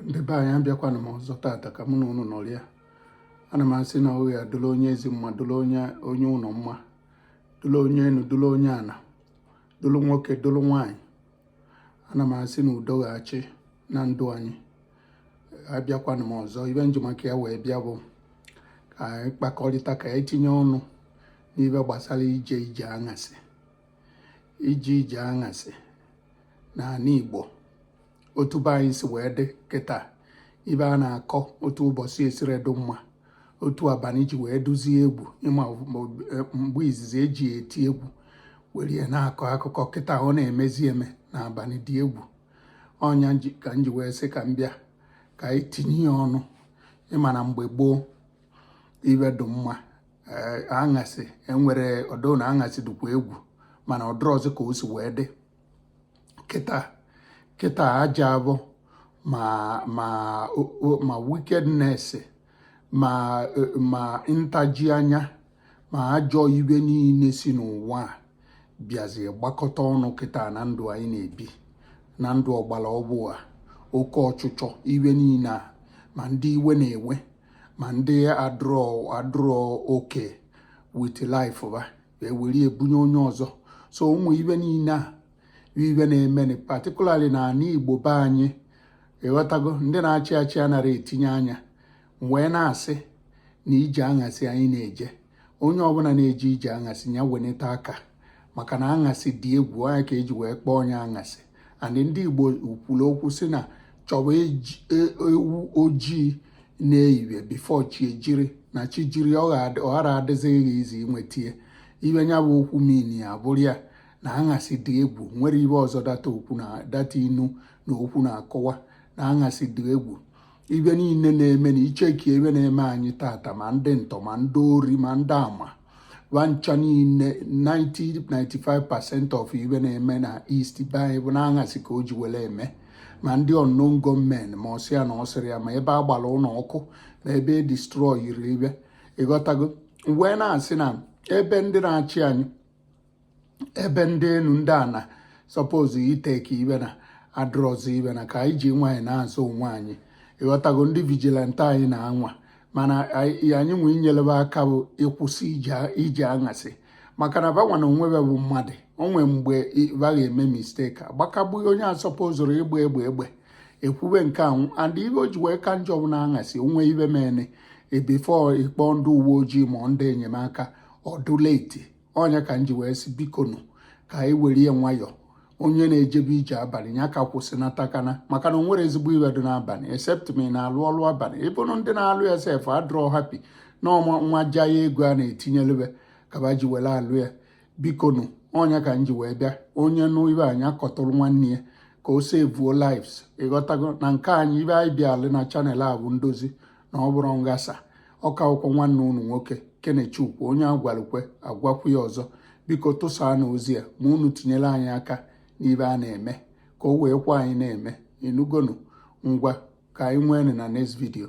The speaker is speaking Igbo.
ndị be anyị abịakwana m ọzọ tata ka mụ na unu nọrịa ana m asị na ọ ya-adụlụ onye ezi mma dụlụ onye onye ụnọ mma dụlụ onye enu dụlụ onye ana dụlụ nwoke dụlụ nwaanyị ana m asị na udo ga-achị na ndụ anyị abịakwana m ọzọ ibe nji maka ya wee bịa bụ ka anyị kpakọrịta ka anyị tinye ọnụ n'ibe gbasara ije ije aṅasị ije ije aṅasị n'anị Igbo otu be anyị si wee dị kịta ibe a na-akọ otu ụbọsị siri dụ mma otu abanị ji wee dụzie egwu ị ma e, mgbe izizi eji eti egwu were ya na-akọ akụkọ kịta ọ na-emezi eme na abanị dị egwu ọ nya ka m ji wee sị ka m bịa ka anyị tinye ya ọnụ ị ma na mgbe gboo ibe dị mma Eh, aṅasị enwere ọdụ na aṅasị dịkwa egwu mana ọ dụrọzi ka o si wee dị kịta kịta aja abụ ma ma ma wickedness ma ma ntaji anya ma ajọ ibe niile si n'ụwa a bịazi gbakọta ọnụ kịta na ndụ anyị na-ebi na ndụ ọgbara ọvụụ a oke ọchịchọ ibe niile a ma ndị iwe na-ewe ma ndị adụrọ adụrọ okay with life ba ewere ebunye onye ọzọ so ụmụ ibe niile a ibe na-emeni particularly na anị igbo be anyị ị ghọtago ndị na-achị achị anara etinye anya wee na-asị na ije aṅasị anyị na-eje onye ọbụla na-eje ije aṅasị ya weneta aka maka na aṅasị dị egwu ọ nya ka e ji wee kpọọ nya aṅasị and ndị igbo kwuru okwu sị na chọwa e, e, ewu ojii n'evivie before chi ejiri na chi jiri ọ ghara adịzi gị easy inwete ya ibe nya bụ okwu mean ya abụrụ ya na aṅasị dị egwu nwerọ ibe ọzọ that okwu na that inu na okwu na-akọwa na aṅasị dị egwu ibe niile na-eme na i checkie ibe na-eme anyị tata ma ndị ntọ ma ndị ori ma ndị ama ba ncha niile 90 95% of ibe na-eme na East be anyị bụ n'aṅasị ka o ji were eme ma ndị unknown gunmen ma ọsị ya na ọsịrị ya ma ebe a gbara ụnọ ọkụ ma ebe e destroyiri ibe ị ghọtago wee na-asị na ebe ndị na-achị anyị ebe ndị enu ndị ana suppose itake ibe na adụrọzi ibe na ka anyị ji wee na-azọ onwe anyị ị ghọtago ndị vigilante anyị na-anwa mana anyị nwe inyelu be aka bụ ịkwụsị ije aṅasị maka na ba nwa na onwe be bụ mmadụ o nwe mgbe ba ga-eme mistake agbakagbughị onye asupposerọ ịgba egbe egbe ekwube nke anwụ and ibe o ji wee ka njọ bụ na aṅasị o nwee ibe mene before ị kpọọ ndị uwe ojii ma ndị enyemaka ọ dụ late ọ nya ka m ji wee sị bikonu ka anyị were ya nwayọọ onye na-ejebe ije abalị ya ka kwụsịnata kana maka na o nwere ezigbo ibe dị n'abalị except ma ị na-alụ ọlụ abalị even ndị na-alụ ya sef adrọ happy na ọma nwa ja ya ego a na-etinyelebe ka ba ji were alụ ya bikonu ọ nya ka m ji wee bịa onye nụ ibe a nya kọtụrụ nwanne ya ka o sevuo lives ị ghọtago na nke anyị ibe anyị bịalụ na channel a bụ ndozi na ọ bụrọ nghasa ọ ka bụkwa nwanne unu nwoke kenechukwu onye a gwalụ kwe a gwakwu ya ọzọ biko tụsaanụ ozi a ma unu tinyere anyị aka n'ibe a na-eme ka o wee kwe anyị na-eme ịnụgonu ngwa ka anyị nwee na next video